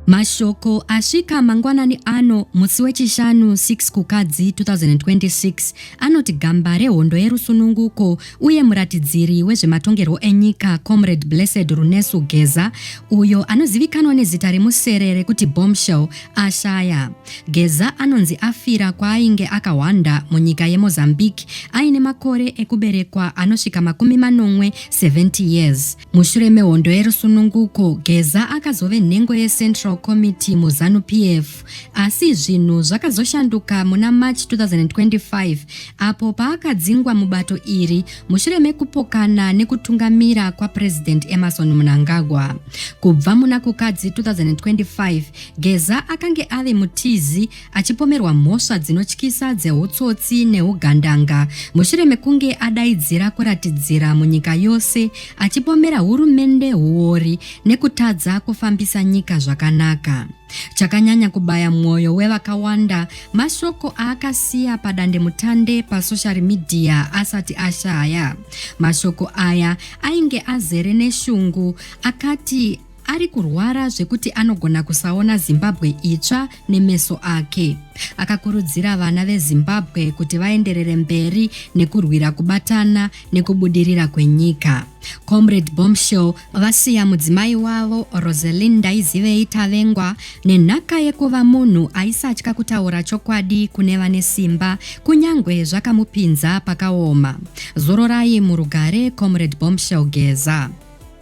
Mashoko asvika mangwanani ano musi weChishanu 6 Kukadzi 2026 anoti gamba rehondo yerusununguko uye muratidziri wezvematongerwo enyika Comrade Blessed Runesu Geza uyo anozivikanwa nezita remusere rekuti Bombshell ashaya. Geza anonzi afira kwaainge akahwanda munyika yeMozambique aine makore ekuberekwa anosvika makumi manomwe 70 years. Mushure mehondo yerusununguko, Geza akazove nhengo yeCentral Committee muZanu PF, asi zvinhu zvakazoshanduka muna March 2025 apo paakadzingwa mubato iri mushure mekupokana nekutungamira kwaPresident Emerson Mnangagwa. Kubva muna Kukadzi 2025, Geza akange ave mutizi achipomerwa mhosva dzinotyisa dzeutsotsi neugandanga mushure mekunge adaidzira kuratidzira munyika yose achipomera hurumende huori nekutadza kufambisa nyika zvakanaka chakanyanya kubaya mwoyo wevakawanda mashoko aakasiya padandemutande pasocial media asati ashaya mashoko aya ainge azere neshungu akati ari kurwara zvekuti anogona kusaona zimbabwe itsva nemeso ake akakurudzira vana vezimbabwe kuti vaenderere mberi nekurwira kubatana nekubudirira kwenyika comrade bombshell vasiya mudzimai wavo roselin ndaizivei tavengwa nenhaka yekuva munhu aisatya kutaura chokwadi kune vane simba kunyange zvakamupinza pakaoma zororai murugare comrade bombshell geza